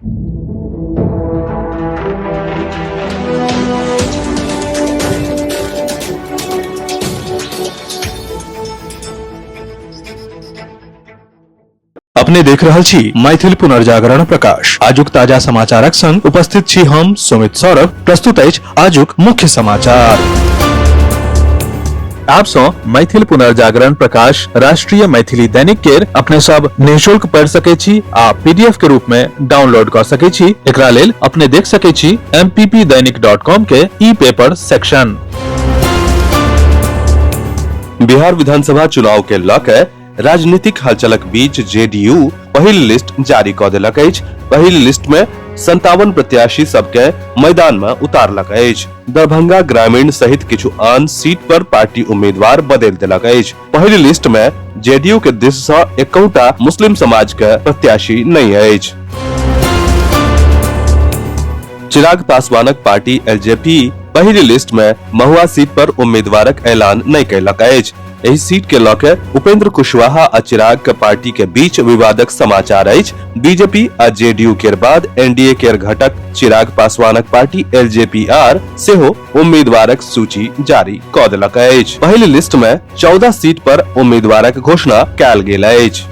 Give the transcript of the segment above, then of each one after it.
अपने देख रहल छी मैथिल पुनर्जागरण प्रकाश आजुक ताजा समाचारक संग उपस्थित छी हम सुमित सौरभ प्रस्तुत अछि आजुक मुख्य समाचार आप सो मैथिल पुनर्जागरण प्रकाश राष्ट्रीय मैथिली दैनिक केर अपने सब निशुल्क पढ़ सके छी आ पीडीएफ के रूप में डाउनलोड कर सके छी एकरा लेल अपने देख सके छी mppdainik.com के ई पेपर सेक्शन बिहार विधानसभा चुनाव के लऽ के राजनीतिक हलचलक बीच जेडीयू पहिल लिस्ट जारी कऽ देलक अछि पहिल लिस्ट मे संतावन प्रत्याशी सबके मैदान मे उतारलक अछि दरभंगा ग्रामीण सहित किछु आन सीट पर पार्टी उम्मीदवार बदलि देलक अछि पहिल लिस्ट मे जेडीयू के दिस सँ एकौटा मुस्लिम समाज के प्रत्याशी नहि अछि चिराग पासवानक पार्टी एलजेपी पहिल लिस्ट मे महुआ सीट पर उम्मीदवारक ऐलान नहि कयलक अछि एहि सीट के लऽ के उपेंद्र कुशवाहा आ चिराग के पार्टी के बीच विवादक समाचार अछि बीजेपी आ जेडीयू के बाद एनडीए के घटक चिराग पासवानक पार्टी एलजेपी आर सेहो उम्मीदवारक सूची जारी कऽ देलक अछि पहिल लिस्ट मे चौदह सीट पर उम्मीदवारक घोषणा कयल गेल अछि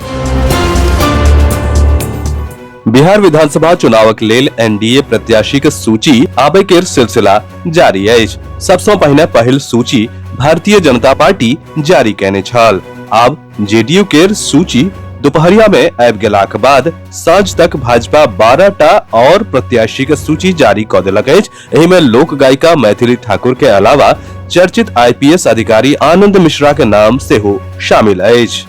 बिहार विधानसभा चुनावक लेल एनडीए प्रत्याशीक सूची आबय केर सिलसिला जारी अछि सबसँ पहिने पहिल सूची भारतीय जनता पार्टी जारी कयने छल आब जेडीयू केर सूची दुपहरिया मे आबि गेलाक बाद साँझ तक भाजपा बारह टा आओर प्रत्याशीक सूची जारी कऽ देलक अछि एहि मे लोक गायिका मैथिली ठाकुर के अलावा चर्चित आईपीएस अधिकारी आनंद मिश्रा के नाम सेहो शामिल अछि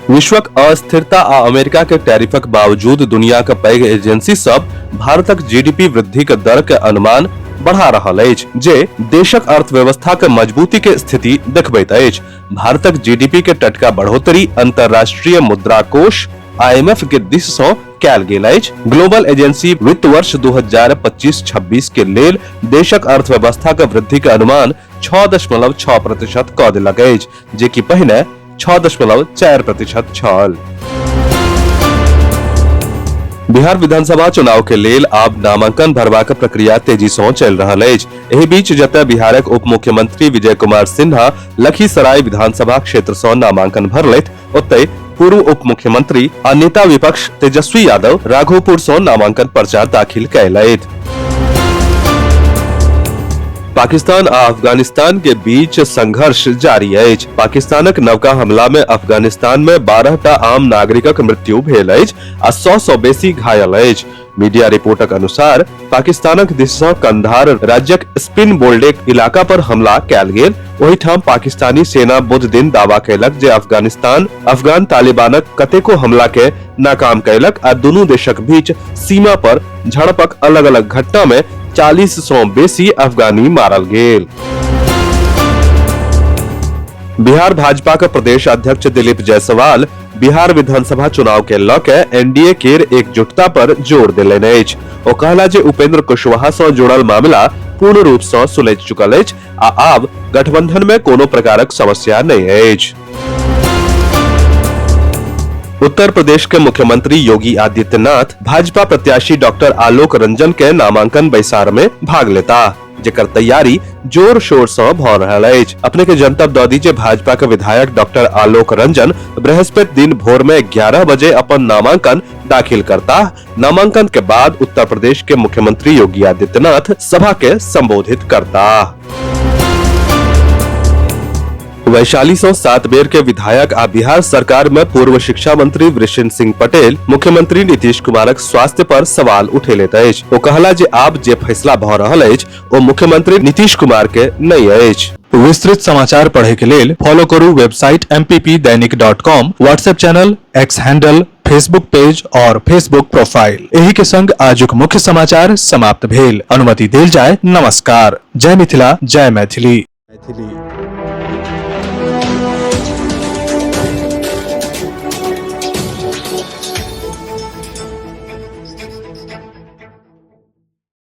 विश्वक अस्थिरता आ अमेरिका के टैरिफक बावजूद दुनिया के पैघ एजेंसी सब भारतक जीडीपी वृद्धि के दर के अनुमान बढ़ा रहल अछि जे देशक अर्थव्यवस्था के मजबूती के स्थिति देखबैत अछि भारतक जीडीपी के टटका बढ़ोतरी अंतर्राष्ट्रीय मुद्रा कोष आईएमएफ के दिश सँ कयल गेल अछि ग्लोबल एजेंसी वित्त वर्ष 2025-26 के लेल देशक अर्थव्यवस्था के वृद्धि के अनुमान 6.6 प्रतिशत कऽ देलक अछि जे कि पहिने छओ दशमलव चारि प्रतिशत छल बिहार विधानसभा चुनाव के लेल आब नामांकन भरबाक प्रक्रिया तेजी सँ चलि रहल अछि एहि बीच जतय बिहारक उप मुख्यमंत्री विजय कुमार सिन्हा लखीसराय विधानसभा क्षेत्र सँ नामांकन भरलथि ओतय पूर्व उप मुख्यमंत्री आ नेता विपक्ष तेजस्वी यादव राघोपुर सँ नामांकन पर्चा दाखिल कयलथि पाकिस्तान आ अफगानिस्तान के बीच संघर्ष जारी अछि पाकिस्तानक नवका हमला में अफगानिस्तान में बारह टा आम नागरिकक मृत्यु भेल अछि आ सौ सौ बेसी घायल अछि मीडिया रिपोर्टक अनुसार पाकिस्तानक दिस सँ कंधार राज्यक स्पिन बोल्डेक इलाका पर हमला कयल गेल ओहिठाम पाकिस्तानी सेना बुध दिन दावा कयलक जे अफगानिस्तान अफगान तालिबानक कतेको हमला के नाकाम कयलक आ दुनू देशक बीच सीमा पर झड़पक अलग अलग घटना में चालीस सौ बेसी अफगानी मारल गेल बिहार भाजपा के प्रदेश अध्यक्ष दिलीप जायसवाल बिहार विधानसभा चुनाव के लऽ के एनडीए के एकजुटता पर जोर देलन अछि ओ कहला जे उपेंद्र कुशवाहा सं जुड़ल मामला पूर्ण रूप सं सुलझि चुकल अछि आ आब गठबंधन में कोनो प्रकारक समस्या नहि अछि उत्तर प्रदेश के मुख्यमंत्री योगी आदित्यनाथ भाजपा प्रत्याशी डॉक्टर आलोक रंजन के नामांकन बैसार में भाग लेता जेकर तैयारी जोर शोर से भ रहल अछि अपने के जनतब दऽ दी जे भाजपा के विधायक डॉक्टर आलोक रंजन बृहस्पति दिन भोर में 11 बजे अपन नामांकन दाखिल करता नामांकन के बाद उत्तर प्रदेश के मुख्यमंत्री योगी आदित्यनाथ सभा के संबोधित करता वैशाली सौ सात बेर के विधायक आ बिहार सरकार में पूर्व शिक्षा मंत्री वृषिन सिंह पटेल मुख्यमंत्री नीतीश कुमारक स्वास्थ्य पर सवाल उठेले अछि ओ कहला जे आब जे फैसला भऽ रहल अछि ओ मुख्यमंत्री नीतीश कुमार के नहि अछि विस्तृत समाचार पढ़े के लेल फॉलो करू website M Dainik dot com WhatsApp channel X handle Facebook page और फेसबुक प्रोफाइल एही के संग आजुक मुख्य समाचार समाप्त भेल अनुमति देल जाय नमस्कार जय मिथिला जय मैथिली मैथिली